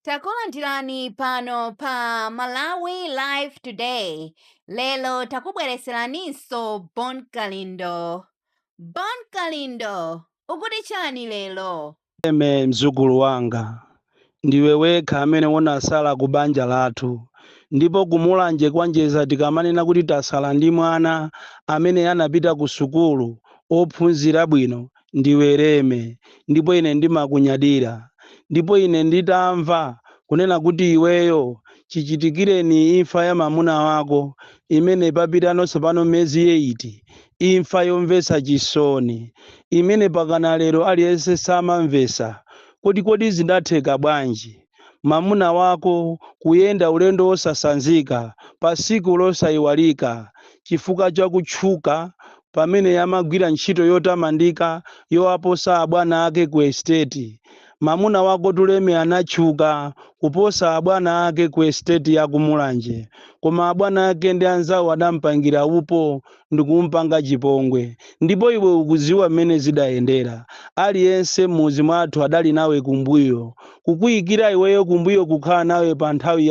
Takulandirani pano pa Malawi Live Today. Lero takubwereseraninso Bon Kalindo. Bon Kalindo, ukuti chani lero? Leme mzukulu wanga, ndiwe wekha amene unasala ku banja lathu ndipo ku Mulanje kwa Njeza tikamanena kuti tasala ndi mwana amene anapita ku sukulu ophunzira bwino Ndiwe Leme, ndipo ine ndimakunyadira. Ndipo ine nditamva kunena kuti iweyo, chichitikireni imfa ya mamuna wako, imene papitano tsopano miyezi eyiti, imfa yomvetsa chisoni, imene pakana lero aliyense samamvetsa, kuti kodi zidatheka bwanji? mamuna wako kuyenda ulendo wosasanzika pa siku losayiwalika chifukwa cha kutchuka pamene amagwira ntchito yotamandika yowaposa abwana ake ku estate. Mamuna wako tu Leme anatchuka kuposa abwana ake ku estate ya ku Mulanje koma abwana ake ndi anzawo adampangira upo ndikumpanga chipongwe. Ndipo iwe ukuziwa mmene zidayendera. Aliyense mmudzi mwathu adali nawe kumbuyo. Kukuyikira iweyo kumbuyo kukhala nawe pa nthawi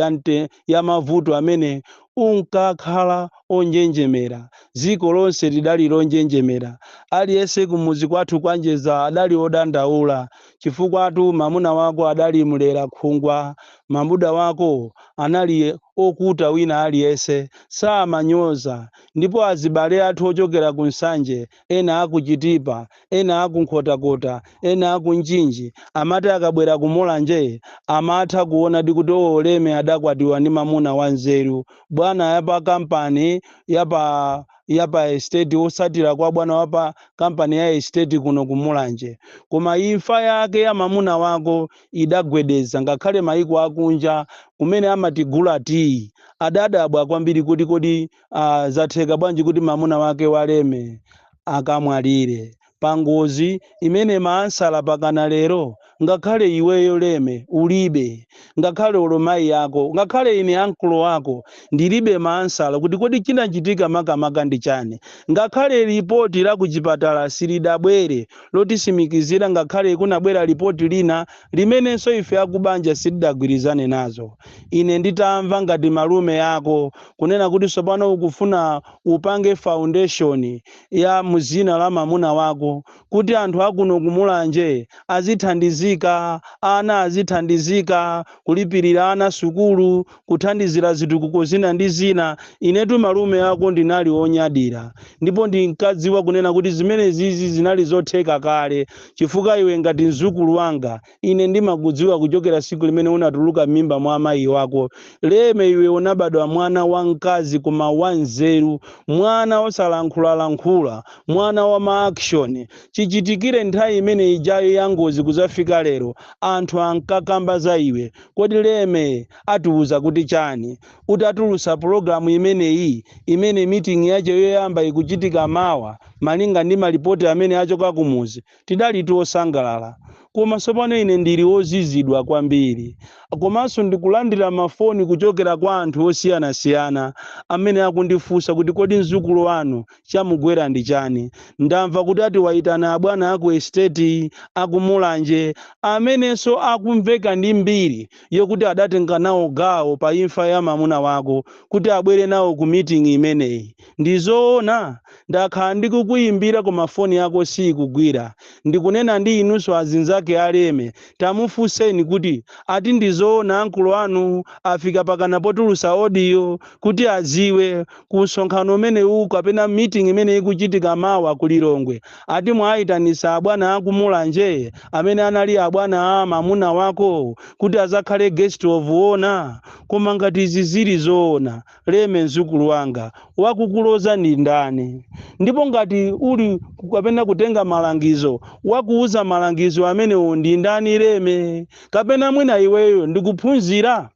ya mavuto amene unkakhala onjenjemera. Dziko lonse lidali lonjenjemera. Aliyense kumudzi kwathu kwa Njedza adali odandaula. Chifukwatu mamuna wako adali mlera khungwa. Mamuna wako anali okonda wina aliyense samanyoza. Ndipo azibale athu ochokera ku Nsanje, ena a ku Chitipa, ena a ku Nkhotakota, ena a ku Mchinji, amati akabwera ku Mulanje amatha kuonadi kuti oo Leme adakwatiwa ndi mamuna wa nzeru. Bwana ya pa kampani ya pa ya pa estate otsatira kwa bwana wa pa kampani ya estate kuno ku Mulanje. Koma imfa yake ya mamuna wako idagwedeza ngakhale maiko akunja kumene amatigula tiyi adadabwa kwambiri kuti kodi uh, zatheka bwanji kuti mamuna wake wa Leme akamwalire pangozi imene maansala pakana lero ngakhale iweyo Leme ulibe ngakhale olo mayi yako ngakhale ine ankolo wako ndilibe maansala kuti kodi chinachitika makamaka ndi chani ngakhale lipoti la kuchipatala silidabwere lotisimikizira ngakhale kunabwera lipoti lina limenenso ife akubanja sitidagwirizane nazo ine nditamva ngati malume ako kunena kuti tsopano ukufuna upange foundation ya muzina la mamuna wako kuti anthu akuno kumulanje azithandizika ana azithandizika kulipirira ana sukulu kuthandizira zitukuko zina ndi zina. Inetu malume ako ndinali wonyadira ndipo ndinkadziwa kunena kuti zimenezizi zinali zotheka kale chifukwa iwe ngati mzukulu wanga ine ndimakudziwa kuchokera siku limene unatuluka m'mimba mwa amayi wako Leme iwe unabadwa mwana wa mkazi koma wa nzeru mwana osalankhulalankhula mwana wa ma action chichitikire nthawi imene ijayo ya ngozi kuzafika lero anthu ankakamba za iwe Kodi Leme atiuza kuti chani uti atulutsa pulogalamu imeneyi imene meeting yache yoyamba ikuchitika mawa malinga ndi malipoti amene achoka kumudzi tidalitu osangalala koma tsopano ine ndili ozizidwa kwambiri komanso ndikulandira mafoni kuchokera kwa anthu osiyanasiyana amene akundifunsa kuti kodi mzukulu wanu Chamugwera ndi chani? Ndamva kuti ati waitana abwana aku estate aku Mulanje amenenso akumveka ndi mbiri yokuti adatenga nawo gawo pa imfa ya mamuna wako kuti abwere nawo ku meeting imeneyi. Ndi zoona? Ndakhala ndikukuimbira koma foni yako siikugwira. Ndikunena ndi inunso azinzake a Leme tamufunseni kuti ati ndi zoona uncle anu afika pakana potulutsa audio kuti adziwe ku msonkhano umenewuwu kapena meeting imene ikuchitika mawa ku Lilongwe ati mwayitanisa abwana aku Mulanje amene anali abwana a mamuna wako kuti azakhale guest of honor koma ngati izi zili zoona Leme mzukulu wanga wakukuloza ndi ndani ndipo ngati uli kapena kutenga malangizo wakuuza malangizo amenewo ndi ndani Leme kapena mwina iweyo ndikuphunzira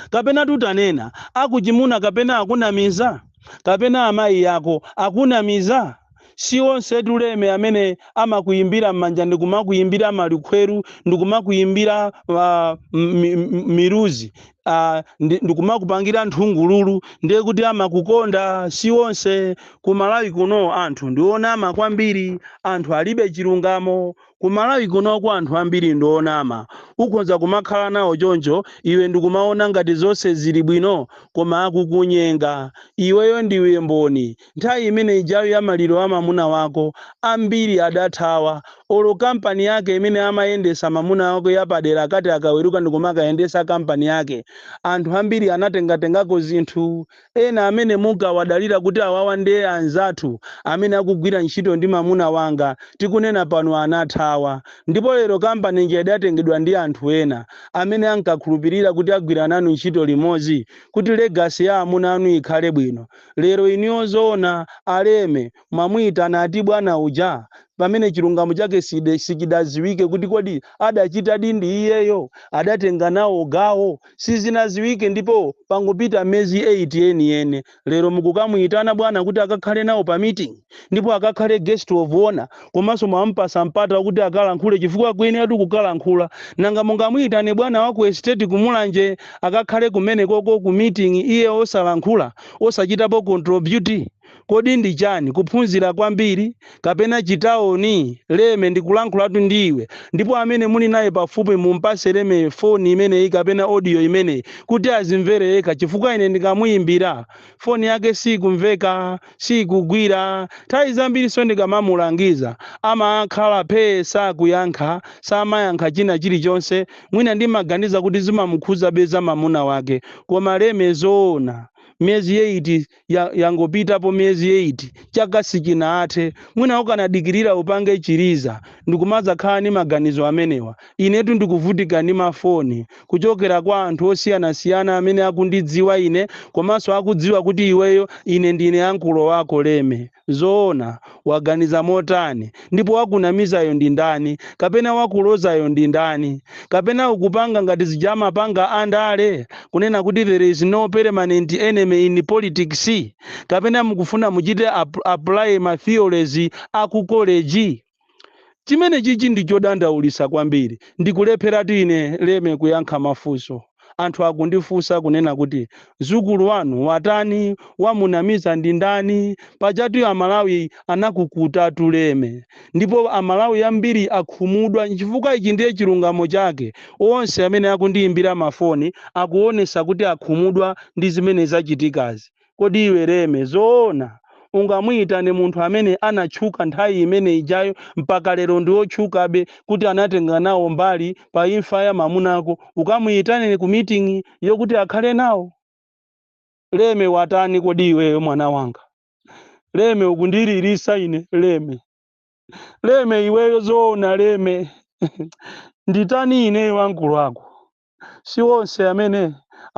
kapena tutanena akuchimuna kapena akunamiza kapena amayi ako akunamiza si onse tu Leme amene amakuyimbira m'manja ndikumakuyimbira malukhweru ndikumakuyimbira uh, mi- mi- miruzi uh, ndikumakupangira nthungululu ndiye kuti amakukonda si onse ku malawi kuno anthu ndionama kwambiri anthu alibe chilungamo Ku Malawi kunoko anthu ambiri ndi onama. Ukhonza kumakhala nawo choncho iwe ndikumaona ngati zonse zili bwino koma akukunyenga. Iweyo ndiwe mboni. Nthawi imene ijayo ya maliro a mamuna wako, ambiri adathawa. Olo kampani yake imene amayendesa mamuna wako ya padera akati akaweruka ndikumakayendesa kampani yake, anthu ambiri anatengatengako zinthu. ena amene munkawadalira kuti awawa nde anzathu amene akugwira ntchito ndi mamuna wanga tikunena pano anathawa ndipo lero company ija idatengedwa ndi anthu ena amene ankakhulupilira kuti agwira nanu ntchito limodzi kuti legacy ya amuna anu ikhale bwino lero inuyo zoona a Leme mwamuitana ati bwana uja pamene chilungamo chake sichidaziwike kuti kodi adachitadi ndi iyeyo adatenga nawo gawo sizinaziwike ndipo pangopita mezi 8 yeniyeni lero mukukamuitana bwana kuti akakhale nawo pa meeting ndipo akakhale guest of honor komanso mwampasa mpata wakuti akalankhule chifukwa akuyeneratu kukalankhula nanga mungamuitane bwana wa ku estate kumulanje akakhale kumenekoko ku meeting iye osalankhula osachitapo contribute Kodi ndi chani? Kuphunzira kwambiri? Kapena chitaoni? Leme, ndikulankhulatu ndi iwe. Ndipo amene muli naye pafupi mumpase Leme foni imeneyi kapena audio imeneyi kuti azimvere yekha chifukwa ine ndikamuyimbira, foni yake sikumveka, sikugwira. Nthawi zambiriso ndikamamulangiza amakhala phee sakuyankha, samayankha china chilichonse. Mwina ndimaganiza kuti zimamukhuzabe za mamuna wake. Koma Leme zoona? Miyezi 8 yangopitapo miyezi 8 chaka sichinathe mwina ukanadikirira upange chiliza ndikumadzakhala ndi maganizo amenewa inetu ndikuvutika ndi mafoni kuchokera kwa anthu osiyanasiyana amene akundidziwa ine komanso akudziwa kuti iweyo ine ndine ankulo wako leme Zoona, waganiza motani? Ndipo wakunamizayo ndi ndani? Kapena wakulozayo ndi ndani? Kapena ukupanga ngati zija amapanga a ndale, kunena kuti there is no permanent enemy in politics? Kapena mukufuna muchite apply ma theories a ku college? chimene chichi ndi chodandaulisa kwambiri ndikulepheratu ine leme kuyankha mafunso anthu akundifunsa kunena kuti mzukulu wanu watani wamunamiza ndi ndani pajatu amalawi anakukondatu leme ndipo amalawi ambiri akhumudwa chifukwa ichi ndiye chilungamo chake onse amene akundiyimbira mafoni akuonesa kuti akhumudwa ndi zimene zachitikazi Kodi iwe Leme zoona ungamuyitane munthu amene anatchuka nthawi imene ijayo mpaka lero ndi otchukabe kuti anatenga nawo mbali pa imfa ya mamunako ukamuyitane ku meeting yokuti akakhale nawo? Leme watani kodi iweyo mwana wanga? Leme ukundililisa ine Leme. Leme iweyo zoona Leme? Nditani ineyo ankulu ako? si onse amene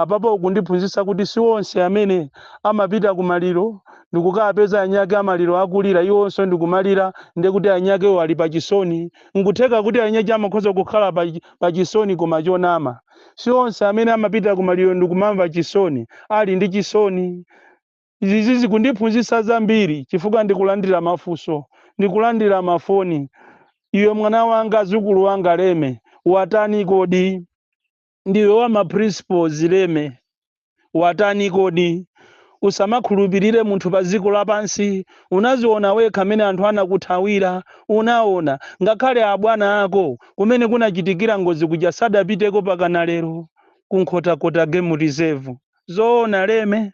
apapa ukundiphunzitsa kuti si onse amene amapita ku maliro ndikukapeza anyake amaliro akulira iwonso ndikumalira ndiye kuti anyakewo ali pa chisoni nkutheka kuti anyache amakhoza kukhala pa chisoni koma chonama si onse amene amapita ku maliro ndikumamva chisoni ali ndi chisoni Izi zikundiphunzitsa zambiri chifukwa ndikulandira mafunso, ndikulandira mafoni, Iwe mwana wanga, zukulu wanga Leme, watani kodi? Ndiwe wa ma principles Leme, watani kodi? Usamakhulupirire munthu pa dziko lapansi, unaziona wekha mene anthu anakuthawira, unaona, ngakhale abwana ako kumene kunachitikira ngozi kuja sadapiteko mpakana lero, ku Nkhotakota Game Reserve, zoona Leme?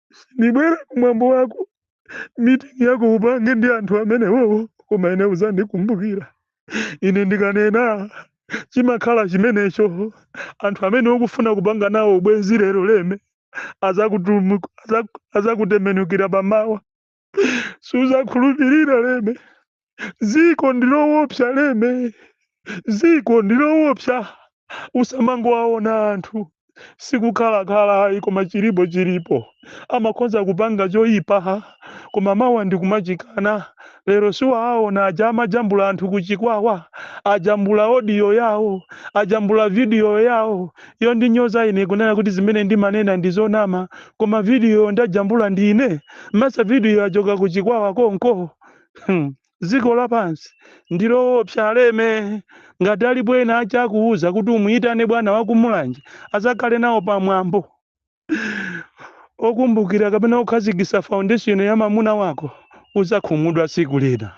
sindibwera kumwambo wako meeting yako upange ndi anthu amenewowo koma ine uzandikumbukira ine ndikanena chimakhala chimenecho anthu amene ukufuna kupanga nawo ubwenzi lero leme azakutembenukira pamawa suzakhulupirira leme ziko ndilowopsa leme ziko ndilowopsa usamangowaona anthu sikukhalakhala ayi koma chilipo chilipo amakhonza kupanga choyipa koma mawa ndikumachikana lero siwaaona aja amajambula anthu kuchikwawa ajambula odiyo yawo ajambula vidiyo yawo yondinyoza ine kunena kuti zimene ndimanena ndizonama koma video ndajambula ndine m'masa video yachoka ku chikwawa konko dziko lapansi ndiloopsa aleme ngati alipo ena ake akuuza kuti umuyitane bwana wakumulanje azakhale nawo pamwambo okumbukira kapena okhazikisa foundation ya mamuna wako uzakhumudwa siku lina